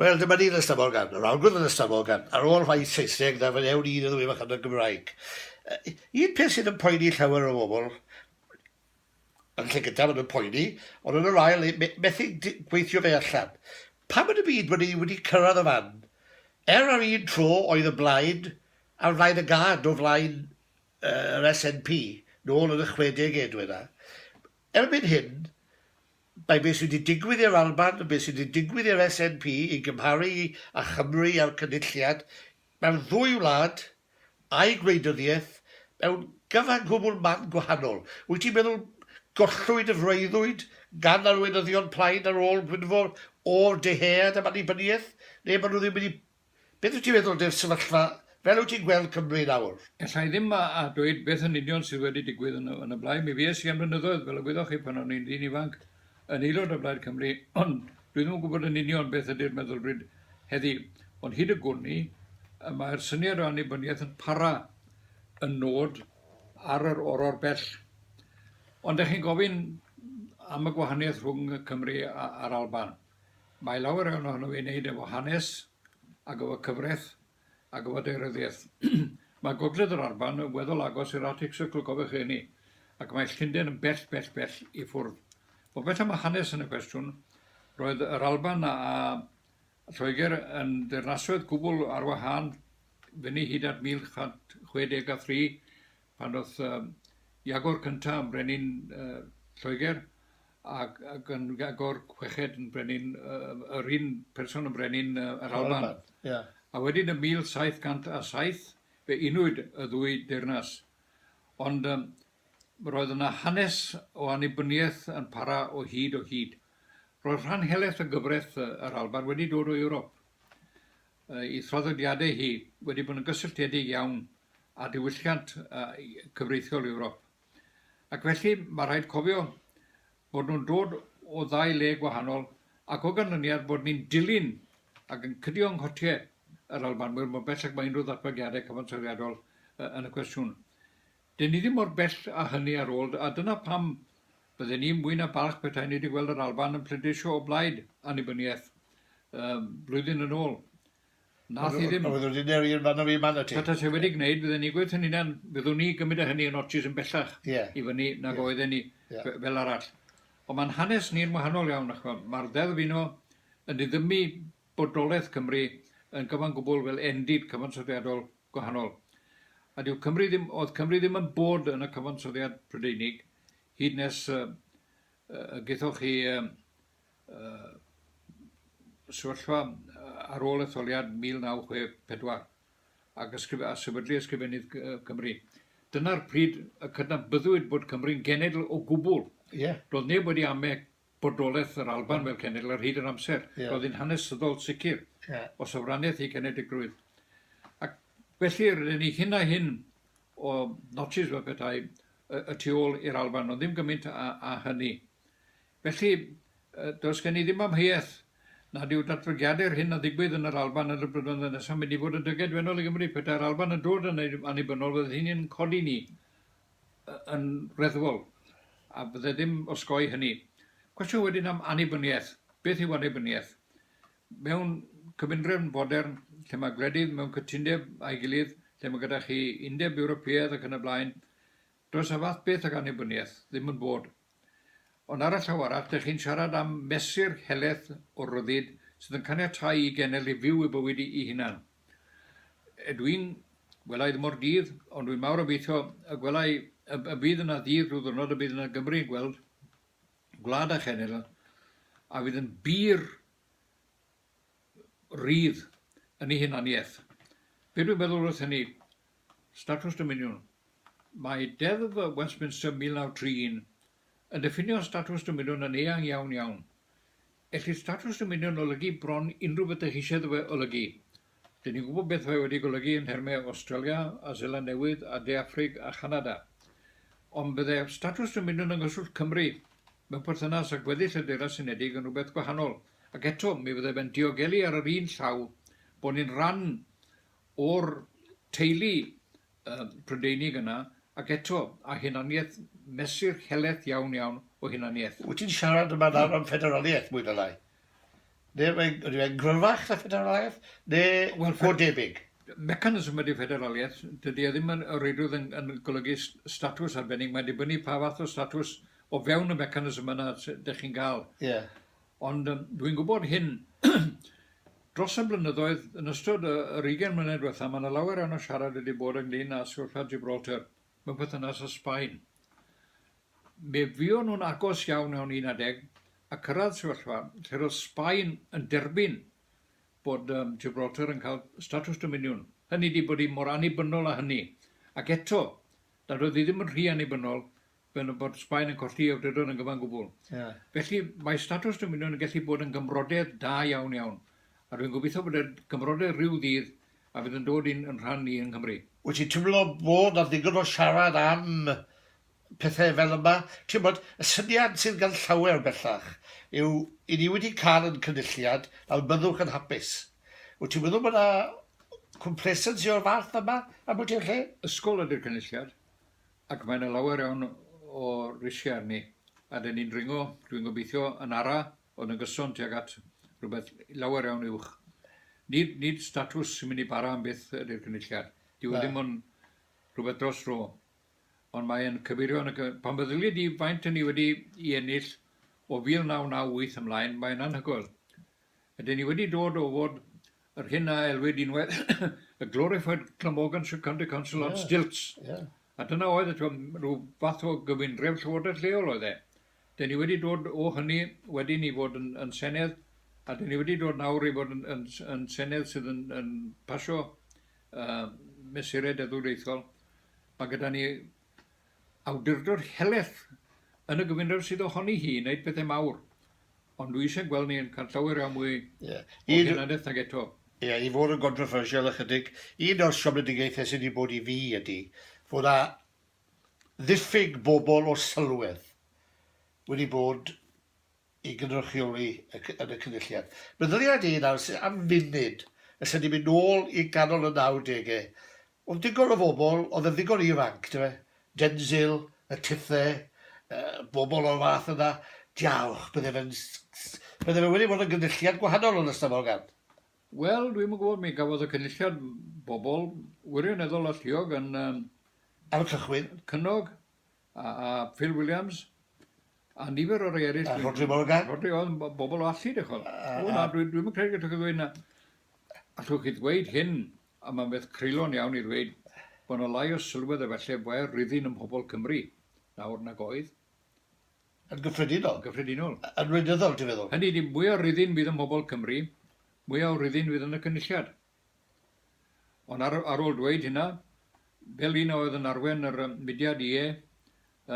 Wel, dyma ni yn y Stabol Gân. Yr awgrym yn y Stabol Gân, ar ôl rhai Saesneg, na fydd ewn i yn y ddwy fachan y Gymraeg. Un peth sydd yn poeni llawer o bobl, yn lle gyntaf yn y poeni, ond yn yr ail, methu gweithio fe allan. Pam yn y byd bod ni wedi cyrraedd y fan? Er ar un tro oedd y Blaid ar flaen y gân o flaen yr SNP, nôl yn y chwedegau, dweda. Erbyn hyn, Mae beth sydd wedi digwydd i'r Alban yn beth sydd wedi digwydd i'r SNP i gymharu â Chymru a'r Cynulliad, mae'r ddwy wlad a'u gwleidyddiaeth mewn cyfan gwbl man gwahanol. Wyt ti'n meddwl gollwyd y freuddwyd gan arweinyddion plaid ar ôl Gwynfor o'r Dyhead am annibyniaeth, neu bod nhw ddim wedi Beth wyt ti'n meddwl dyw'r sefyllfa fel wyt ti'n gweld Cymru nawr? Alla i ddim a dweud beth yn union sydd wedi digwydd yn y blaid. Mi fues i am flynyddoedd, fel y gwyddoch chi, pan o'n i'n ddyn ifanc, yn aelod o Blaid Cymru, ond dwi ddim yn gwybod yn union beth ydy'r meddylfryd heddi. Ond hyd y gwn i, y mae'r syniad o annibyniaeth yn para yn nod ar yr oror bell. Ond dych chi'n gofyn am y gwahaniaeth rhwng Cymru a'r Alban. Mae llawer iawn ohono fe i wneud efo hanes ac efo cyfraith ac efo daearyddiaeth. Mae Gogledd yr Alban yn weddol agos i'r Arctic Circle, cofiwch hynny, ac mae Llundain yn bell, bell, bell i ffwrdd. Ond beth am y hanes yn y cwestiwn? Roedd yr Alban a Lloegr yn deyrnasoedd gwbl ar wahân fyny hyd at 1163 pan ddoth Iago'r Cyntaf yn brenin Lloegr Ac ac yn agor chweched yn brenin yy yym yr un person yn brenin yy yr Alban. Yr Alban, ia. A wedyn yn 1707 fe unwyd y ddwy deyrnas. Ond yym roedd yna hanes o annibyniaeth yn para o hyd o hyd. Roedd rhan helaeth o gyfraith yy yr Alban wedi dod o Ewrop. Yy ei thraddodiadau hi wedi bod yn gysylltiedig iawn â diwylliant yy cyfreithiol Ewrop. Ac felly, mae rhaid cofio bod nhw'n dod o ddau le gwahanol ac o ganlyniad bod ni'n dilyn ac yn cydio yng nghotiau yr Albanwyr mor bell ag mae unrhyw ddatblygiadau cyfansoddiadol yn y cwestiwn. Dyn ni ddim mor bell â hynny ar ôl, a dyna pam bydden i mwy na balch petai ni wedi gweld yr Alban yn pleidleisio o blaid annibyniaeth blwyddyn yn ôl. Nath hi ddim. Oedd wedi neu un fan o fi man y ti. Peta se wedi gwneud fydden ni gweud hynny nan fyddwn ni gymryd a hynny yn otis yn bellach yeah. i fyny nag yeah. oedden ni yeah. fel arall. Ond mae'n hanes ni'n wahanol iawn ac mae'r ddeddf uno yn diddymu bodolaeth Cymru yn gyfan gwbl fel endid cyfansoddiadol gwahanol. A dyw Cymru ddim, oedd Cymru ddim yn bod yn y cyfansoddiad Prydeinig hyd nes uh, uh, gaethoch chi uh, y sefyllfa ar ôl etholiad 1964 ac ysgrif a sefydlu Ysgrifennydd Cymru. Dyna'r pryd y cydnabyddwyd bod Cymru'n genedl o gwbl. Yeah. Roedd neb wedi ame bodolaeth yr Alban fel cenedl ar hyd yr amser. Yeah. Roedd hi'n hanesyddol sicr yeah. o sofraniaeth ei genedigrwydd. Ac felly, rydyn ni hyn a hyn o notsis fel petai y, y tu ôl i'r Alban, ond ddim gymaint a, a hynny. Felly, does gen i ddim amheuaeth nad yw datblygiadau'r hyn a ddigwydd yn yr Alban yn y blynyddoedd nesaf yn mynd i fod yn dyged wennol i Gymru. Petai'r Alban yn dod yn annibynnol, fydd hynny yn codi ni yn reddfol, a byddai ddim osgoi hynny. Cwestiwn wedyn am annibyniaeth. Beth yw annibyniaeth? Mewn cyfundrefn fodern, lle mae gwledydd mewn cytundeb â'i gilydd, lle mae gyda chi Undeb Ewropeaidd ac yn y blaen, Does y fath beth ag annibyniaeth ddim yn bod. Ond ar y llaw arall, dych chi'n siarad am mesur helaeth o ryddid sydd yn caniatáu i genedl i fyw ei bywyd ei hunan. Ydw i'n gwela i ddim o'r dydd, ond dwi'n mawr obeithio y gwela i, y bydd yna ddydd rhyw ddwrnod y bydd yna Gymru yn gweld gwlad a chenedl a fydd yn bur rydd yn ei hunaniaeth. Be dwi'n meddwl wrth hynny, Statws Dominiwn Mae Deddf Westminster 1931 yn diffinio statws dominiwn yn eang iawn iawn. Ellid statws dominiwn olygu bron unrhyw ydych eisiau iddo fe olygu. Dyn ni'n gwybod beth mae wedi golygu yn nhermau Awstralia a Seland Newydd a De Affrig a Chanada. Ond bydde statws dominiwn yng nghyswllt Cymru mewn perthynas â gweddill y Deyrnas Unedig yn rhywbeth gwahanol, ac eto mi fydde fe'n diogelu ar yr un llaw bod ni'n rhan o'r teulu yy Prydeinig yna, ac eto, a hunaniaeth, mesur helaeth iawn iawn o hunaniaeth. Wyt ti'n siarad yma nawr am ffederaliaeth, mwy na lai? Neu yw e'n yw e'n gryfach na ffederaliaeth, neu Wel, go debyg? Mechanism ydy ffederaliaeth, dydy e ddim yn reidrwydd yn yn golygu s- statws arbennig, mae'n dibynnu pa fath o statws o fewn y mechanism yna sy- dych chi'n ga'l. Ie. Ond yym dwi'n gwybod hyn, dros y blynyddoedd, yn ystod y yr ugain mlynedd dwetha, ma' 'na lawer iawn o siarad wedi bod ynglŷn â sefyllfa Gibraltar mewn perthynas â Sbaen. Mi fuon nhw'n agos iawn mewn un ar ddeg a cyrraedd sefyllfa lle roedd Sbaen yn derbyn bod yym Gibraltar yn cael statws dominiwn. Hynny ydi bod hi mor annibynnol â hynny. Ac eto, nad oedd hi ddim yn rhy annibynnol fel y bod Sbaen yn colli ei awdurdod yn gyfan gwbl. Ie. Felly, mae statws dymunion yn gallu bod yn gymrodedd da iawn, iawn, a dwi'n gobeithio bod e'n gymrodedd ryw ddydd a fydd yn dod i'n rhan ni yng Nghymru. Wyt ti'n teimlo bod 'na ddigon o siarad am pethau fel yma? Ti'n gwybod, y syniad sydd gan llawer bellach yw, 'yn ni wedi cael ein cynulliad, nawr byddwch yn hapus'. Wyt ti'n meddwl bod 'na complacency o'r fath yma ambell i lle? Ysgol ydy'r cynulliad. Ac mae 'na lawer iawn o risiau arni, a 'dyn ni'n dringo, dwi'n gobeithio, yn ara, ond yn gyson tuag at rhywbeth lawer iawn uwch. Nid, nid statws sy'n mynd i bara am byth ydy'r cynulliad. Dyw e ddim ond rhywbeth dros ro. Ond mae'n cyfeirio yn y... Pan feddylia di faint yn ni wedi i ennill o 1998 ymlaen, mae'n anhygoel. Ydyn ni wedi dod o fod Yr hyn a elwid yn well y glorified Glamorgan County Council on stilts. A dyna oedd e, rhyw fath o gyfundrefn llywodraeth lleol oedd e. Dyn ni wedi dod o hynny wedyn i fod yn Senedd, a dyn ni wedi dod nawr i fod yn Senedd sydd yn pasio mesurau deddfwriaethol. Mae gyda ni awdurdod helaeth yn y gyfundrefn sydd ohoni hi i wneud pethau mawr, ond dwi isie gweld ni'n cael llawer iawn mwy yeah. o hunaniaeth nag eto. Ie, yeah, i fod yn gondroffersial ychydig, un o'r siomedigaethau sydd wedi bod i fi ydy fod yna ddiffyg bobl o sylwedd wedi bod ei gynrychioli yn y Cynulliad. Meddylia ni nawr sydd am funud, os ydyn ni'n mynd nôl i ganol y 90au, oedd digon o fobl oedd yn ddigon ifanc, dyfe, Denzil, y Tithe, bobl o'r fath yna, diawch, bydde fe'n, bydde fe wedi bod yn gynulliad gwahanol yn ystafell gan. Wel, dwi'm yn gwybod, mi gafodd y Cynulliad bobl wirioneddol alluog yn... Ar y cychwyn. ...cynnog, A, a Phil Williams, a nifer o rei eraill. A Rhodri Morgan. Rhodri, oedd bobl o allu, dych chwel. O, na, dwi'n dwi credu gallwch chi ddweud na. Allwch chi ddweud hyn, a mae'n beth creulon iawn i ddweud, bod yna lai o sylwedd efallai fe ryddyn ym mhobl Cymru nawr nag oedd. Yn gyffredinol. Yn gyffredinol. Yn wleidyddol, ti'n feddwl? Hynny ydi, mwy o ryddyn fydd ym mhobl Cymru, mwy o ryddyn fydd yn y cynulliad. Ond ar ar ôl dweud hynna, fel un a oedd yn arwen yr yym mudiad Ie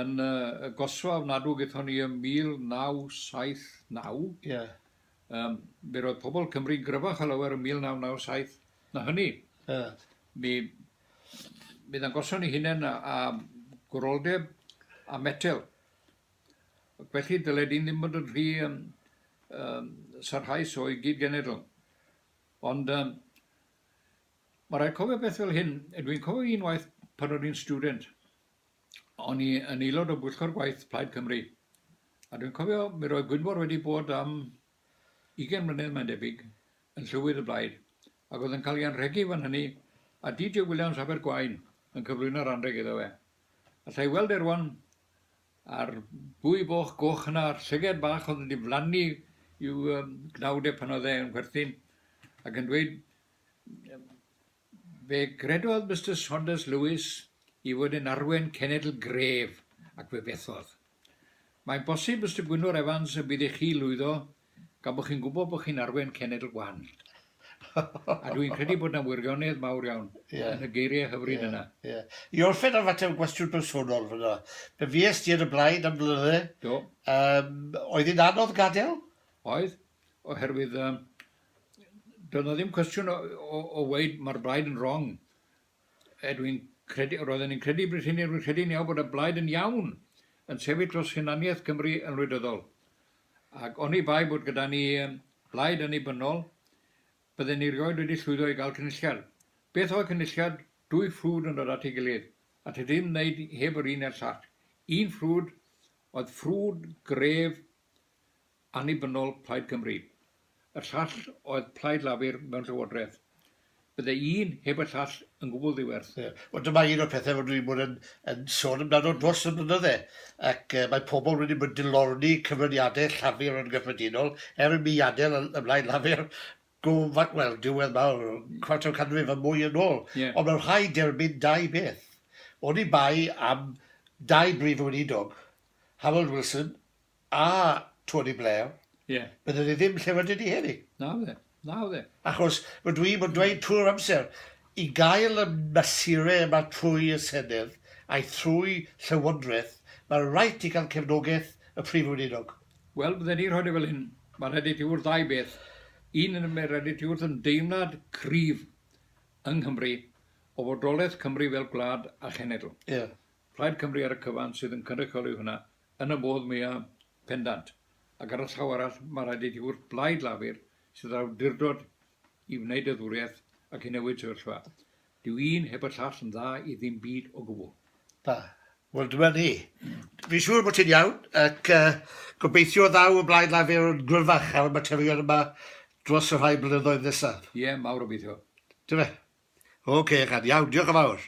yn yy y gosfa ofnadw gaethon ni ym 1979, Ie. yym mi roedd pobl Cymru'n gryfach o lawer ym 1997 na hynny. Ie. Mi mi ddangoson ni hunain a a gwroldeb a metel. Ac felly dyle dyn ddim bod yn rhy yym yym sarhaus o'i gyd-genedl. Ond yym ma' raid cofio beth fel hyn, dwi'n cofio un waith pan o'n i'n student, o'n i yn aelod o bwyllgor gwaith Plaid Cymru, a dwi'n cofio mi roedd Gwynfor wedi bod am ugain mlynedd mae'n debyg yn llywydd y Blaid, ac oedd yn cael ei anrhegu fan hynny, a DJ Williams Abergwaun yn cyflwyno'r anrheg iddo fe. Alla i weld e rŵan A'r bwy boch goch yna, a'r llyged bach oedd yn diflannu i'w gnawd e pan oedd e yn chwerthin, ac yn dweud, Fe gredodd Mister Saunders Lewis i fod yn arwen cenedl gref, ac fe fethodd. Mae'n bosib, Mister Gwynfor Evans, y bydd i chi lwyddo Gan bod chi'n gwybod bod chi'n arwain cenedl gwahanol. A dwi'n credu bod yna wirionedd mawr iawn yeah. yn y geiriau hyfryd yeah. yna. Yeah. I orffen ar fater o gwestiwn bersonol fyna. Be fues ti ar y blaen am flynydde? Do. Um, oedd hi'n anodd gadael? Oedd, oherwydd um, doedd yna ddim cwestiwn o, o, o weid mae'r blaid yn wrong. Rwy'n credu, roedden ni'n credu, bryd hynny, rwy'n credu yn iawn bod y blaid yn iawn yn sefyll dros hunaniaeth Cymru yn wleidyddol. Ac oni bai bod gyda ni blaid annibynnol, bydden ni rioed wedi llwyddo i gael cynulliad. Beth oedd cynulliad? Dwy ffrwd yn dod at ei gilydd, a ti ddim wneud heb yr un neu'r llall. Un ffrwd oedd ffrwd gref annibynnol Plaid Cymru, y llall oedd Plaid Lafur mewn Llywodraeth. Bydde un heb y llall yn gwbl ddiwerth. Ie, wel dyma un o'r pethau rydw i'n bod yn yn sôn amdano dros y blynydde, ac mae pobl wedi bod yn dilorni cyfraniadau Llafur yn gyffredinol, er imi adael y y Blaid Lafur go fa- wel, diwedd mawr, cwarter o canrif a mwy yn ôl. Ie. Ond mae'n rhaid derbyn dau beth. Oni bai am dau Brif Weinidog, Harold Wilson A Tony Blair. Ie. Bydde fe ddim lle rydyn ni heddi. Na fydde. Na fydde. Achos rydw i'n bod yn dweud trwy'r amser, i gael y mesurau yma trwy y Senedd a'i thrwy Llywodraeth, mae raid ti gael cefnogaeth y Prif Weinidog. Wel, bydden i'n rhoi fe fel hyn, mae rhaid i ti wrth ddau beth. Un, mae rhaid i ti wrth ymdeimlad cryf yng Nghymru o fodolaeth Cymru fel gwlad a chenedl. Ie. Plaid Cymru ar y cyfan sydd yn cynrychioli hwnna, Yn y modd mwya pendant, ac ar y llaw arall, mae rhaid i ti wrth blaid Lafur sydd â'r awdurdod i wneud y ddwriaeth ac i newid sefyllfa. Dyw un heb y llall yn dda i ddim byd o gwbl. Da. Wel, dyma ni. Fi'n siŵr bod ti'n iawn, ac uh, gobeithio ddaw y blaid Lafur yn gryfach ar y materion yma dros y rhai blynyddoedd nesaf. Ie, yeah, mawr obeithio. Dyma. OK, Egan, iawn, diolch yn fawr.